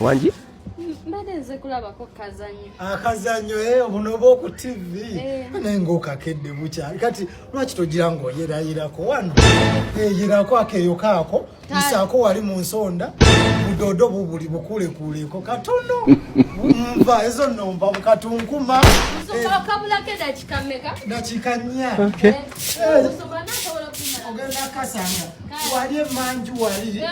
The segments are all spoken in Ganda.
wangi mbadde nze kulabako kazanyo akazanyo ah, eh, obuno oba oku tv eh. naye ngaokakedde bukyali kati lwaki togira ngaoyerayirako wano eyirako eh, akeyo kaako isaako wali mu nsonda budodo bubuli bukulekuuleko katono nva ezo nomba bukatunkuma dakika nya eh, ogenda kasanga wali emanju wali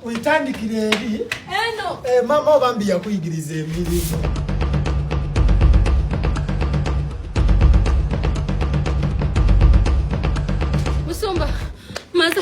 oyitandikira eri eh, mama obambi yakuyigiriza emirimu Musumba, maze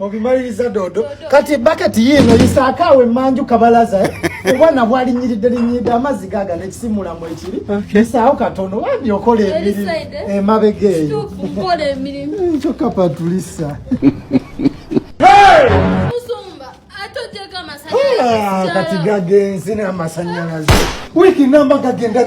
obimaliriza dodo kati baketi yiino yisaako awo emanju kabalaza eh? obwana bwalinyiridde linyiridde amazzi gaga nekisimulamu ekiri isaawo katono wandi okola emirimu eh? emabega eh, eyo hmm, kyokka patulisa ah, kati gagenzi n'amasanyalaze wiiki namba gagenda